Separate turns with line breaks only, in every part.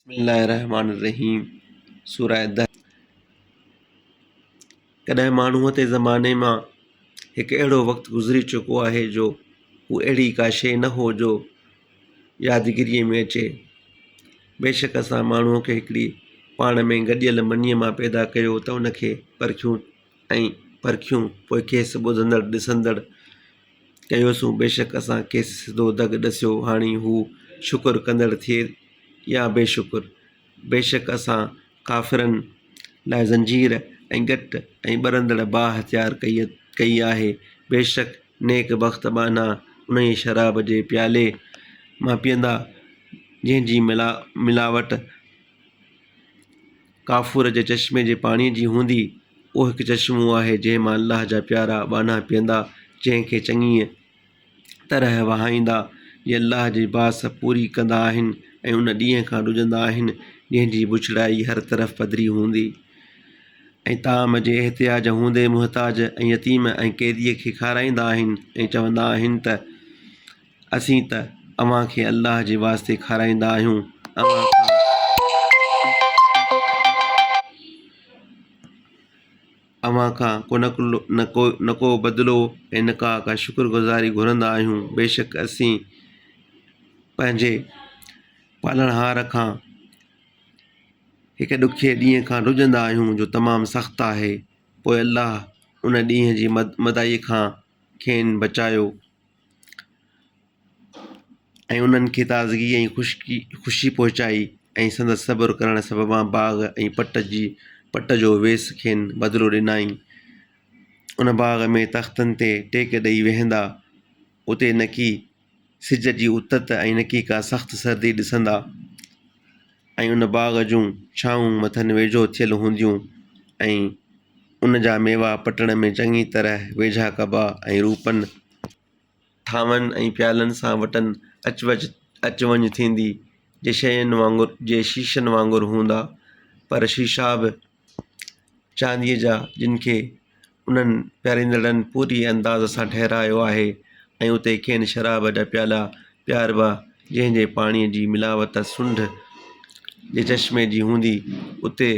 بسم الله الرحمٰن الرحيم سورة الدهر ڪڏهن ماڻهوء تي زماني مان هڪ اهڙو وقت گذري چڪو آهي جو هو اهڙي ڪا شيء نه هو جو يادگيريء ۾ اچي بيشڪ اسان ماڻهوء کي هڪڙي پاڻ ۾ گڏيل منيء مان پيدا ڪيو ته ان کي پرکيون ۽ پرکيون پوء کيس ٻڌندڙ ڏسندڙ ڪيوسون بيشڪ اسان کيس سڌو دڳ ڏسيو هاڻي هو شڪر ڪندڙ ٿئي يا بي شڪر بيشڪ اسان ڪافرن لاء زنجير ۽ ڳٽ ۽ ٻرندڙ باهه تيار ڪئي ڪئي آهي بيشڪ نيڪ بخت ٻانها انهيء شراب جي پيالي مان پيئندا جنهن جي ملا ملاوٽ ڪافور جي چشمي جي پاڻيء جي هوندي، اهو هڪ چشمو آهي، جنهن مان الله جا پيارا ٻانها پيئندا، جنهن کي چڱيء طرح وهائيندا، جي الله جي باس پوري ڪندا آهن ۽ ان ڏينهن کان ڊڄندا آهن، جنهن جي بڇڙائي هر طرف پڌري هوندي ۽ طعام جي احتياج هوندي محتاج ۽ يتيم ۽ قيديء کي کارائيندا آهن ۽ چوندا آهن ته، اسين ته اوهان کي الله جي واسطي کارائيندا آهيون اوهان کان اوهان کان ڪو نه ڪو نه ڪو بدلو ۽ نه ڪا ڪا شڪر گذاري گهرندا آهيون بيشڪ اسين پنهنجي پالڻهار کان هڪ ڏکي ڏينهن کان ڊڄندا آهيون جو تمام سخت آهي پوء الله ان ڏينهن جي مد مدائي کان کين بچايو ۽ انهن کي تازگي ۽ خشڪي خوشي پهچائي ۽ سندس صبر ڪرڻ سببان باغ ۽ پٽ جي پٽ جو ويس کين بدلو ڏنائين. ان باغ ۾ تختن تي ٽيڪ ڏيئي ويهندا، اتي نڪي سج جي اتت ۽ نڪي ڪا سخت سردي ڏسندا. ۽ ان باغ جون ڇانهون مٿن ويجهو ٿيل هونديون ۽ ان جا ميوا پٽڻ ۾ چڱي طرح ويجها ڪبا ۽ روپن، ٿانون ۽ پيالن سان وٽن اچ وچ اچ وڃ ٿيندي، جي شين وانگر جي شيشن وانگر هوندا، پر شيشا به. چانديء جا جن کي انهن پياريندڙن پوري انداز سان ٺهرايو آهي ۽ اتي کين شراب جا پيالا پياربا جنهن جي پاڻيء جي ملاوت سنڍ جي چشمي جي هوندي اتي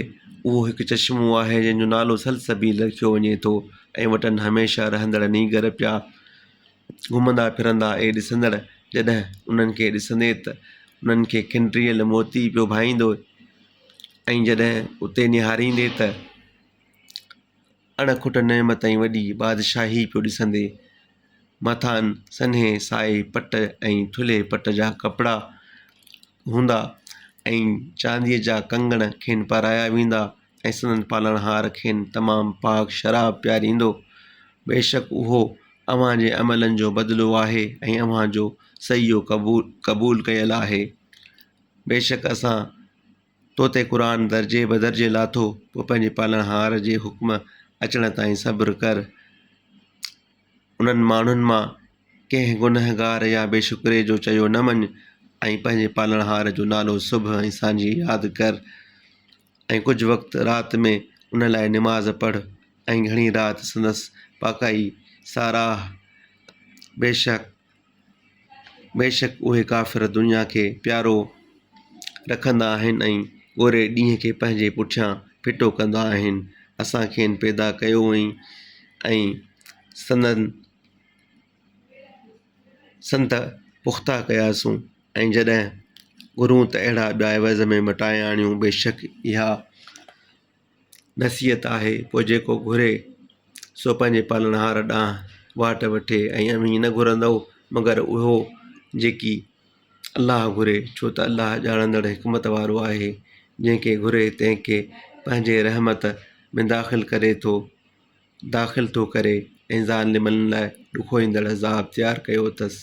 اهو هڪ چشمو آهي جنهن جو نالو سلسبيل رکيو وڃي ٿو ۽ وٽن هميشه رهندڙ نينگر پيا گهمندا ڦرندا اهي ڏسندڙ جڏهن انهن کي ڏسندي ته انهن کي کنڊريل موتي پيو ڀائيندو ۽ جڏهن اتي نهاريندي ته اڻ کٽ نعمت ۽ وڏي بادشاهي پيو ڏسندي، مٿان سنهي سائي پٽ ۽ ٿلهي پٽ جا ڪپڙا هوندا ۽ چانديء جا ڪنگڻ کين پارايا ويندا ۽ سندن پالڻهار کين تمام پاڪ شراب پياريندو. بيشڪ اهو اوهان جي عملن جو بدلو آهي ۽ اوهان جو سعيو قبول ڪيل آهي. بيشڪ اسان تو تي قرآن درجي بدرجي لاٿو، پوء پنهنجي پالڻهار جي حڪم اچڻ تائين صبر ڪر. انهن ماڻهن مان ڪنهن گنهگار يا بي شڪري جو چيو نه مڃ ۽ پنهنجي پالڻهار جو نالو صبح ۽ سانجهي ياد ڪر ۽ ڪجهه وقت رات ۾ ان لاء نماز پڙهه ۽ گهڻي رات سندس پاڪائي ساراهه. بيشڪ بيشڪ اهي ڪافر دنيا کي پيارو رکندا آهن ۽ ڳوري ڏينهن کي پنهنجي پٺيان ڦٽو ڪندا آهن. اسان کين پيدا ڪيو هئائين ۽ سندن سنت پختا ڪياسون ۽ جڏهن گهرون ته اهڙا ٻيا عوض ۾ مٽائي آڻيون. بيشڪ اها نصيحت آهي پوء جيڪو گهري سو پنهنجي پالڻهار ڏانهن واٽ وٺي ۽ اوهين نه گهرندؤ مگر اهو جيڪي الله گهري ڇو ته الله ڄاڻندڙ حڪمت وارو آهي جنهن کي گهري تنهن کي پنهنجي رحمت ۾ داخل ڪري ٿو داخل ٿو ڪري ۽ ظالمن لاء ڏکوئيندڙ عذاب تيار ڪيو اٿس